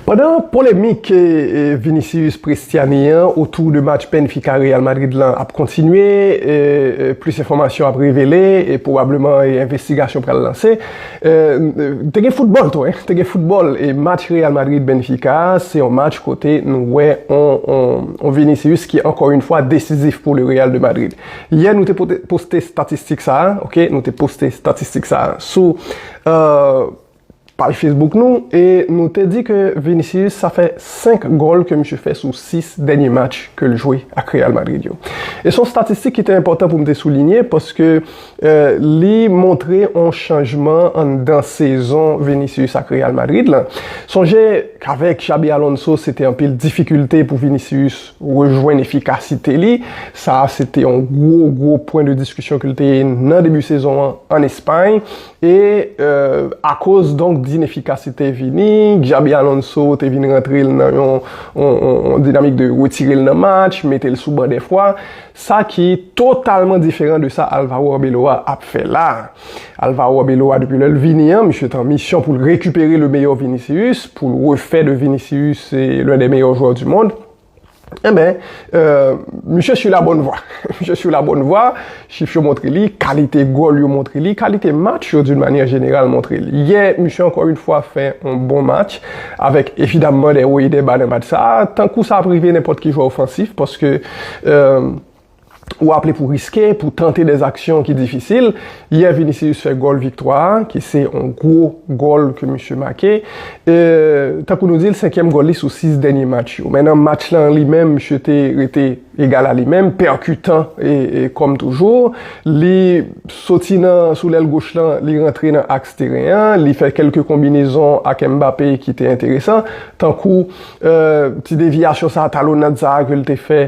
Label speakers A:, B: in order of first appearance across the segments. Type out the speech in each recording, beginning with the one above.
A: Pandan polemik Vinicius Prestiani an otou de match Benfica Real Madrid lan ap kontinye, plis enfòmasyon ap revele e pwobableman envestigasyon pral lanse. Te gen foutbòl tou, te gen foutbòl e match Real Madrid Benfica a se yon match kote nou wè yon Vinicius ki ankò yon fwa desizif pou le Real de Madrid. Yè nou te poste statistik sa a, nou te poste statistik sa a sou. Paj Facebook nou e nou te di ke Vinicius sa fè 5 gòl ke misye fè sou 6 dènye match ke l jwe ak Real Madrid yo. E son statistik ki te enpòtan pou m te soulinye paske li montre on chanjman anndan sezon Vinicius ak Real Madrid lan. Sonje k'avèk Xabi Alonso se te anpil difikilte pou Vinicius rejwenn efikasite li, sa se te on gwo gwo pwen de diskisyon ke l te nan debi sezon an an Espay E akoz donk d'inefficacite vini, Xabi Alonso te vin rantre l nan yon dinamik de retire l nan match, mete l sou ban dè fwa, sa ki totalman diferan de sa Alvaro Arbeloa ap fè la. Alvaro Arbeloa depi lè l vini an, misye te an misyon pou l rekipere le meilleur Vinicius, pou l refè de Vinicius l'un des meilleurs joueurs du monde. Enben, misye su la bòn vwa. Misye su la bòn vwa, chif yo montre li, kalite gòl yo montre li, kalite match yo d'une manyè jeneral montre li. Yè, misye ankò une fwa fè yon bon match, avèk evidamman dè wo e dè ba nan match sa a, tankou sa ap rive nenpòt ki jwè ofansif, paske. ou aple pou riske, pou tante dè zaksyon ki difisil. Yè Vinicius fè gòl viktwa a, ki se yon gwo gòl ke misye make. Tankou nou di l, senkyèm gòl li sou 6 dènye match yo. Men nan match la an li menm, misye te rete egal a li menm, pèkitan kòm toujou. Li soti nan sou lèl goch lan, li rantre nan aks teren an, li fè kèlke konbinezon ak Mbappé ki te enteresan, tankou. Ti devyasyon sa, talonad sa ke l te fè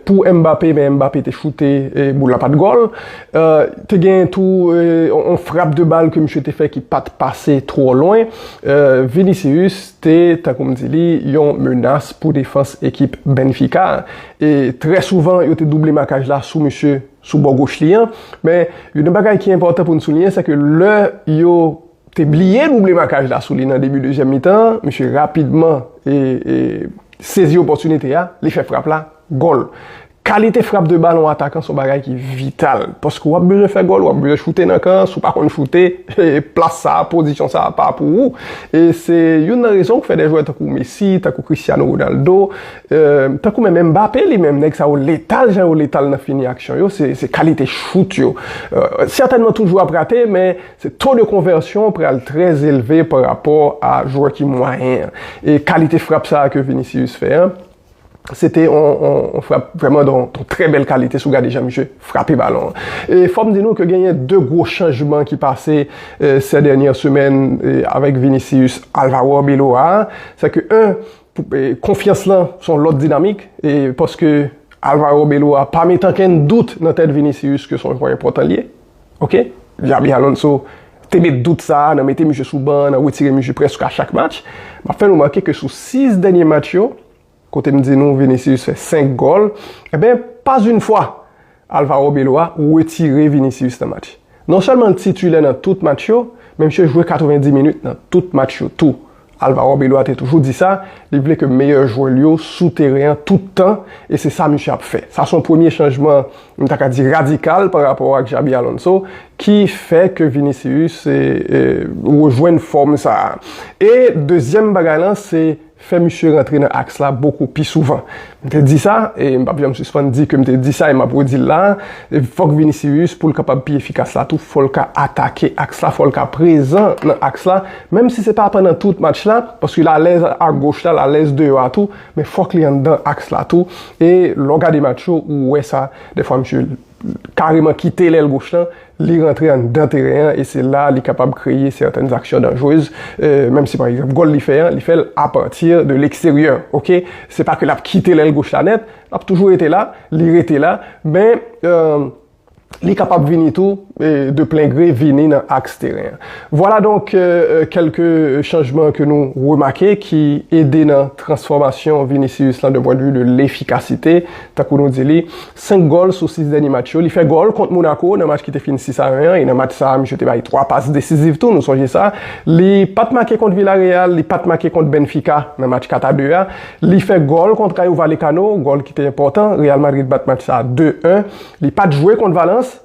A: pou Mbappé men Mbappé te choute e boul la pat gòl. Te gen tou yon frap de bal ke misye te fè ki pat pase twò lwen. Vinicius te, tankou m di li, yon menas pou defans ekip Benfica a. E trè souvan yo te double makaj la sou misye sou bò goch li an. Men, youn nan bagay ki enpòtan pou n souliyen se ke lè yo te bliye double makaj la sou li nan debi dezyèm mitan an, misye rapidman sezi opòtinite a, li fè frap la, gòl. Kalite frap de balon atakan son bagay ki vital, paske wap bezwen fè gòl, wap bezwen choute nan kan, si w pa konn choute, plas sa a, pozisyon sa a pa pou ou. E se youn nan rezon ki fè de jwè tankou Messi, tankou Cristiano Ronaldo, tankou menm Mbappé li menm, nèg sa yo letal jan yo letal nan fini aksyon yo, se kalite chout yo. Sètènman tout jwè ap rate, men Se to de konvèsyon pral trè elve pa rapò a jwè ki mwayen an. E kalite frap sa a ke Vinicius fè an, se te yon frap vrèman don trè bèl kalite si w gade jan misye frape balon an. E fò m di nou ke genyen de gwo chanjman ki pase sè dènyè semèn avèk Vinicius, Alvaro Arbeloa a. Se ke 1, konfyans lan se yon lòt dinamik e paske Alvaro Arbeloa pa met ankenn dout nan tèt Vinicius ke se yon jwè enpòtan li ye. Ok, Xabi Alonso te met dout sa a nan mete misye sou ban an, nan retire misye prèske a chak match. M ap fè nou remake ke sou 6 dènye match yo, kote m di nou Vinicius fè 5 gòl, enben pas une fwa Alvaro Beloa retire Vinicius nan match. Non sèlman l titilè nan tout match yo, men misye jwe 90 minit nan tout match yo tou. Alvaro Arbeloa te toujou di sa, li vle ke meyè jwè l yo sou teren an tout tan, e se sa misye ap fè. Sa se yon premye chanjman, m ta ka di radikal pa rapò ak Xabi Alonso, ki fè ke Vinicius rejwenn fòm sa a. E dezyèm bagay lan, se fè misye rantre nan aks la bokou pi souvan. M te di sa, e m pap janm sispann di ke m te di sa e m ap redi l la a, fòk Vinicius pou l kapab pi efikas la tou, fò l ka atake aks la, fò l ka prezan nan aks la, menm si se pa pandan tout match la, paske l alèz agoch la, l alèz deyò a tou, men fòk li anndan aks la tou, e lè w gade match yo, ou wè sa, dèfwa msye. kareman kite lèl goch lan, li rantre anndan teren an e se la li kapab kreye sètèn zaksyon danjrez, menm si pa egzanp gòl li fè an, li fèl apati de leksteryè ok, se pa ke lap kite lèl goch la nèt, lap toujou rete la, li rete la, men li kapab vini tou de plen gre vini nan aks teren an. Vwala donk kèlke chanjman ke nou remake ki ede nan transfòmasyon Vinicius lan de pwendvi de lefikasite, tankou nou di li 5 gòl sou 6 dènye match yo. Li fè gòl kont Monaco nan match ki te fin 6 a 1 an e nan match sa a misye te bay 3 pas desiziv tou, nou sonje sa. Li pa t make kont Villarreal, li pa t make kont Benfica nan match 4 a 2 a. Li fè gòl kont Rayo Vallecano, gòl ki te enpòtan, Real Madrid bat match sa a 2, 1. Li pa t jwe kont Valence.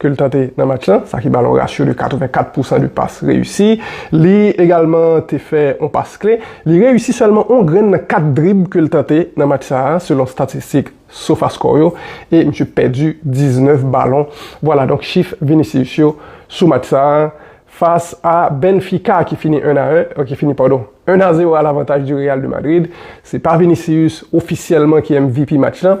A: ke l tante nan match lan, sa ki ba l yon ratio de 84 pousan de pas reyisi. Li egalman te fè yon pas kle. Li reyisi sèlman yon grenn nan 4 drib ke l tante nan match sa a, selon statistik Sofascore yo, e misye pèdi 19 balon. Vwala donk chif Vinicius yo sou match sa a fas a Benfica ki fini 1 a 1, ki fini padon, 1 a 0 a lavantaj de Real de Madrid. Se pa Vinicius ofisyèlman ki MVP match lan,